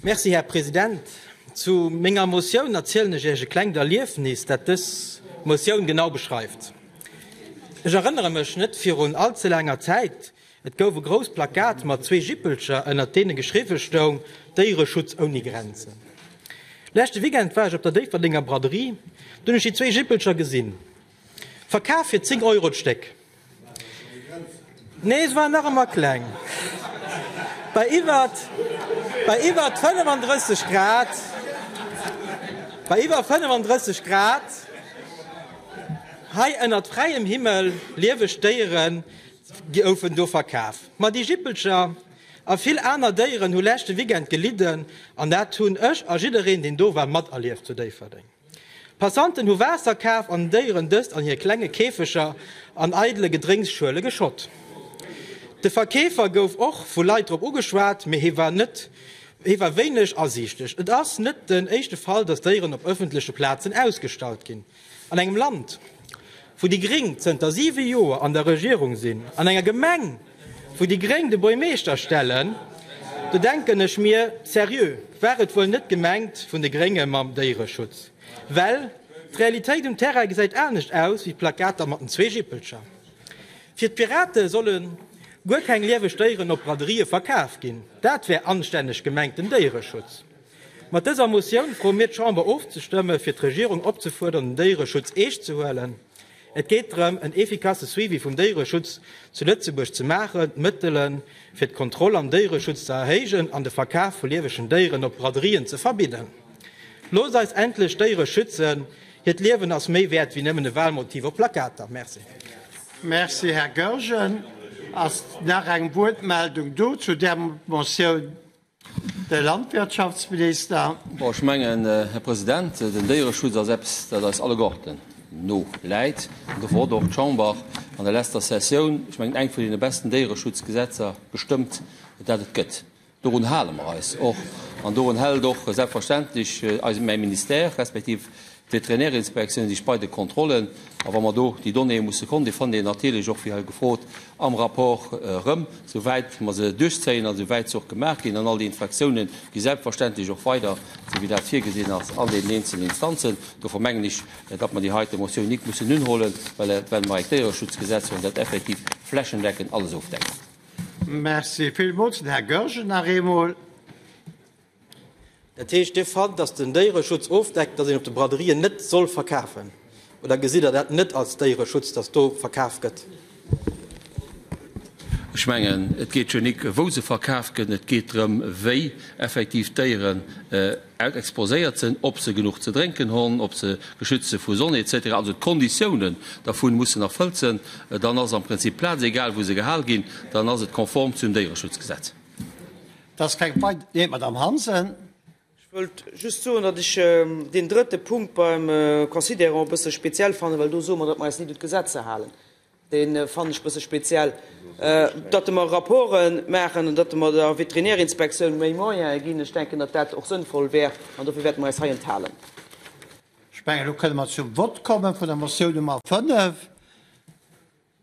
Merci, Här President. Zu menger Motioun erzielen ech Iech e klengt Erliefnis, dat dës Motioun genau beschreift. Ech erënnere mech net virun all ze laanger Zäit, et gouf e grousst Plakat mat zwee Jippelcher, ënnert deene geschriwwe stoung, Déiereschutz ouni Grenzen. Leschte Weekend war ech op der Déifferdenger Braderie, do hunn ech déi zwee Jippelcher gesinn. Verkaf fir 10 Euro d'Stéck. Nee, se waren nach ëmmer kleng. Bei iwwert 35 Grad, bei iwwer 35 Grad hei ënnert fräiem Himmel, lieweg Déiere goufen do verkaf. Ma déi Jippelcher a vill aner Déieren hu leschte Weekend gelidden an dat hunn ech a jiddereen, deen do war, materlieft zu Déifferdeng. Passanten hu Waasser kaf an den Déieren dëst an hir klenge Käfeger an eidele Gedrénksschuele geschott. De Verkeefer gouf och vu Leit drop ugeschwat, mee hie war wéineg asiichtlech. Et ass net den éischte Fall, datt Déieren op ëffentleche Plazen ausgestallt ginn an engem Land. wou déi Gréng zënter siwe Joer an der Regierung sinn, an enger Gemeng, wou déi Gréng de Buermeeschter stellen, do denken ech mir, seriö, war et wuel net gemengt vun de Grénge mam Déiereschutz? Well d'Realitéit um Terrain gesäit anescht aus wéi d'Plakater mat den zwee Jippelcher. Fir d'Pirate solle guer keng lieweg Déieren op Braderie verkaf ginn, dat wär anstänneg gemengten Déiereschutz. Mat dëser Motioun froe mir d'Chamber ofzestëmme fir d'Regierung opzefuerdern den Déiereschutz eescht ze huelen. Et geet drëm en efficace Suivi vum Déiereschutz zu Lëtzebuerg ze maachen, d'Mëttele fir d'Kontroll am Déiereschutz ze erhéijen an de Verkaf vu liewegen Déieren op Braderien ze verbidden. Loosst eis endlech d'Déiere schützen, hiert Liewen ass méi wäert wéi nëmmen e Walmotiv op Plakater. Merci. Merci, Här Goergen. Ass nach eng Wuertmeldung do zu där Motioun? De Landwirtschaftsminister. Bon, ech mengen, Här President, den Déiereschutz ass eppes, dat eis alleguerten no läit. An dofir huet och d'Chamber an der leschter Sessioun, ech mengen, eng vun deene besten Déiereschutzgesetzer gestëmmt, dat et gëtt. Dorun hale mer eis och. An dorun hält och selbstverständlech eise mäi Ministère, respektiv D'Veterinärinspektioune sich bei de Kontrollen, a wa mer do déi Donnéeë musse kommen, déi fannt Dir natierlech och, wéi hei gefrot, am Rapport erëm, souwäit mer se duerchzéien a souwäit se och gemaach ginn. An all déi Infraktiounë gi selbstverständlech och weider, esou wéi dat virgesinn ass, an deenen eenzelen Instanzen. Dofir mengen ech, datt mer déi heite Motioun nik mussen unhuelen, well mer e Déiereschutzgesetz hunn, dat effektiv flächendeckend alles ofdeckt. Merci villmools. Den Här Goergen nach eemol. Dat heescht, Dir fannt, datt den Déiereschutz ofdeckt, datt een op de Braderien net soll verkafen, oder gesitt Der dat net als Déiereschutz, datt do verkaf gëtt? Ech mengen, et geet jo nik, wou se verkaf gëtt, et geet drëm, wéi effektiv d'Déieren exposéiert sinn, ob se genuch ze drénken hunn, ob se geschützt sinn vu Sonn, etc. Also d'Konditiounen dervun mussen erfëllt sinn, dann ass am Prinzip d'Plaz, egal wou se gehal ginn, dann ass et konform zum Déiereschutzgesetz. Dass keng Pei. Nee, Madamm Hansen. Ech wëllt just soen, datt ech deen drëtte Punkt beim Considerant e bësse speziell fannen, well do soe mer, datt mer eis ni do d'Gesetz ze halen. Dee fannen ech e bësse speziell, datt mer Rapporte maachen an datt mer der Veterinärinspektioun méi Moyene ginn. Ech denken, datt dat och sënnvoll wär an dofir wäerte mer eis hei enthalen. Ech mengen, elo kënne mer zum Vott komme vun der Motioun Nummer 5.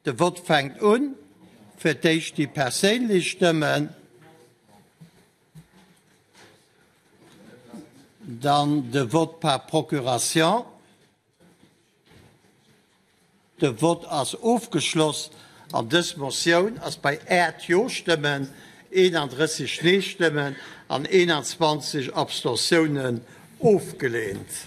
De Vott fänkt un. Fir d'éischt déi perséinlech Stëmmen, dann de Vote par procuration. De Vott ass ofgeschloss an dës Motioun ass bei 8 Jo-Stëmmen, 31 Nee-Stëmmen an 21 Abstentiounen ofgelehnt.